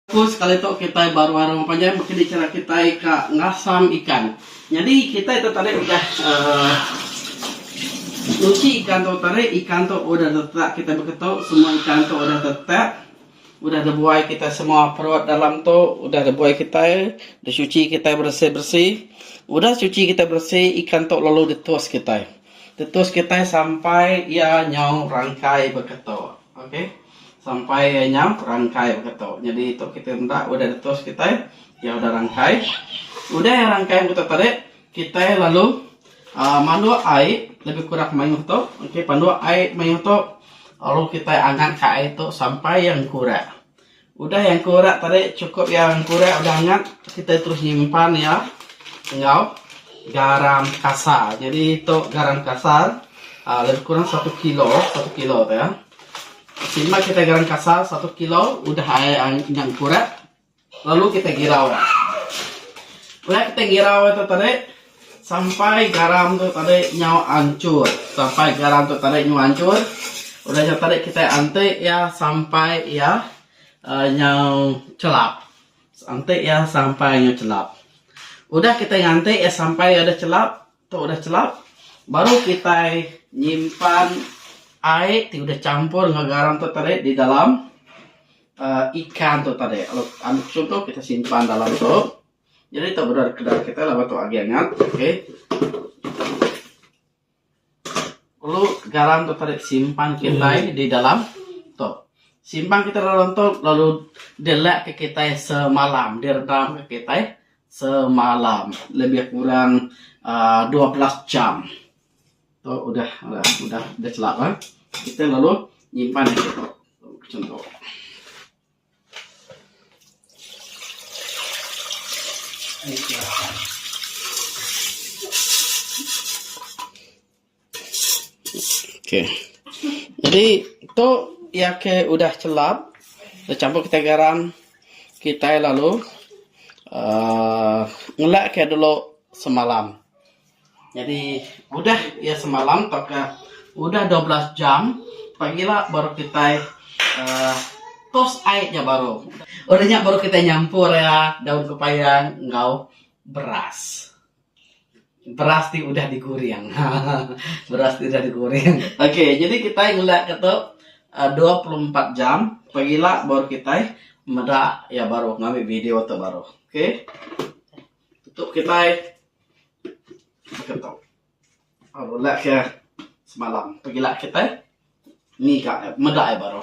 Ku sekali tu kitai baru ari orang panjai baka ni chara kitai ka ngasam ikan. Nyadi kitai tu tadi udah aaa nyuci ikan tu tadi ikan tu udah tetak kitai beketu semua ikan tu udah tetak udah dibuai kitai semua perut dalam tu udah dibuai kitai disuci kitai beresi-beresi udah suci kitai beresi ikan tu lalu ditus kitai. Ditus kitai sampai iya nyau rangkai beketu. Ok. Sampai iya nyau rangkai baka tu. Nyadi tu kitai meda udah detus kitai iya udah rangkai. Udah iya rangkai baka tu tadi kitai lalu uh, manduk ai lebih kurang mayuh tu. Okey panduk ai mayuh tu lalu kitai angat ka ai tu sampai iya engkurak. Udah iya engkurak tadi cukup iya engkurak udah angat kitai terus nyimpan iya enggau garam kasar. Nyadi tu garam kasar uh, lebih kurang satu kilo, satu kilo tu ya. Terima kitai garam kasar satu kilo udah ai endang kurat lalu kitai girau. Udah kitai girau tu tadi sampai garam tu tadi nyau anchur sampai garam tu tadi nyau anchur udah nyau tadi kitai anti iya sampai iya uh, nyau chelap. Anti iya sampai nyau chelap. Udah kitai nganti iya sampai iya udah chelap Tu udah chelap, baru kitai nyimpan ai ti udah champur enggau garam tu tadi di dalam uhh ikan tu tadi. Ambil chunto kitai simpan dalam tu. Nyadi tu bendar kedara kitai laban tu agi angat. Okay. Perlu garam tu tadi simpan kitai di dalam tu. Simpan kitai dalam tu lalu dilek ka kitai semalam, direndam ka kitai Semalam lebih kurang dua belas jam tu udah udah chelap ah kita lalu nyimpan agi tu macam tu. ok jadi tu iya ke udah chelap da champur kitai garam kitai lalu um ngelak ke dulu semalam jadi udah iya semalam tau ka udah dua belas jam pagila baru kitai um tos ai nya baru udah nya baru kitai nyampur iya daun pepaya enggau beras. Beras ti udah digoreng. Beras ti udah digoreng. Okey, jadi kitai ngulak ka tu uhh dua puluh empat jam pagila baru kitai meda iya baru ngambi video tu baru. Okey. Tu kitai baka tu. Ngulak ka semalam. Pagila kitai ngiga meda iya baru.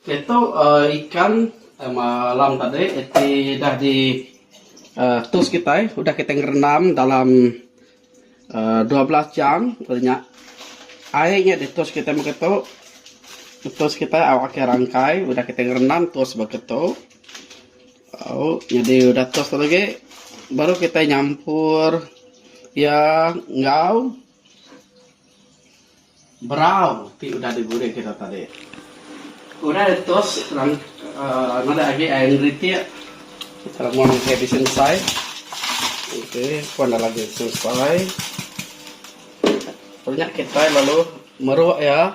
Keto ikan malam tadi iti dah di tus kitai udah kitai ngerendam dalam dua belas jam lalu nya air nya ditus kitai mung keto tus kitai au akai rangkai udah kitai ngerendam tus ba keto au nyadi udah tus tu agi baru kitai nyampur iya enggau Berau ti udah digurih kita tadi. Udah ditus ngena agi air ngeritik tau mung udah bisi mesai okey pun dah lagi selesai. Nya kitai lalu meruk iya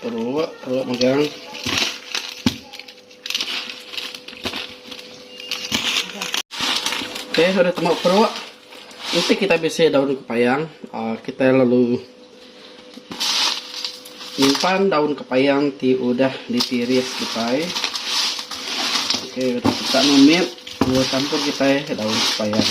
Perut, perut megang. Okey, sudah tembak perut. Nanti kita bisi daun kepayang. Uh, kita lalu Nyimpan daun kepayang ti udah ditiris kitai. Okey udah kita meh mit mula champur kitai daun kepayang.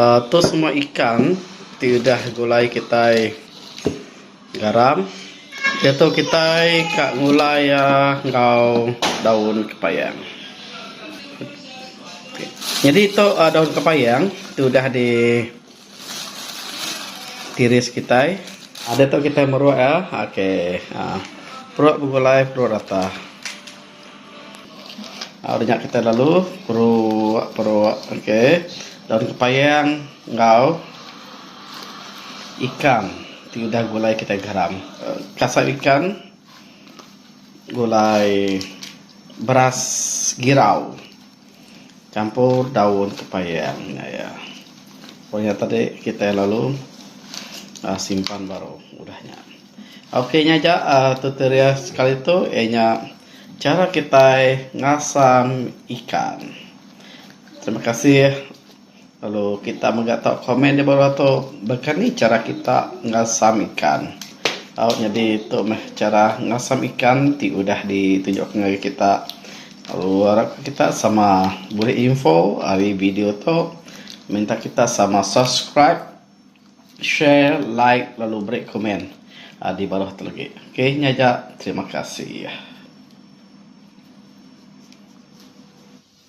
uhh tu semua ikan ti udah gulai kitai. Garam. Diatu kitai ka ngulai iya enggau daun kepayang. Nyadi tu daun kepayang ti udah di tiris kitai. Diatu kitai meruk iya. Okey. Peruk begulai peruk ratah. Ari nya kitai lalu perok perok okay daun kepayang enggau ikan ti udah gulai kitai garam kasam ikan gulai beras girau campur daun kepayang nya iya pun nya tadi kitai lalu simpan baru udah nya. Ok nya aja tutorial sekali tu iya nya chara kitai ngasang ikan. Terima kasih lalu kita mega tau komen di bawah tu baka ni chara kita ngasang ikan. Tau nyadi tu meh chara ngasang ikan ti udah di tunjuk ngagai kita lalu arap kita sama bulih info ari video tu minta kita sama subscribe. share like lalu beri komen a di baruh tu lagi ok nya ja terima kasih.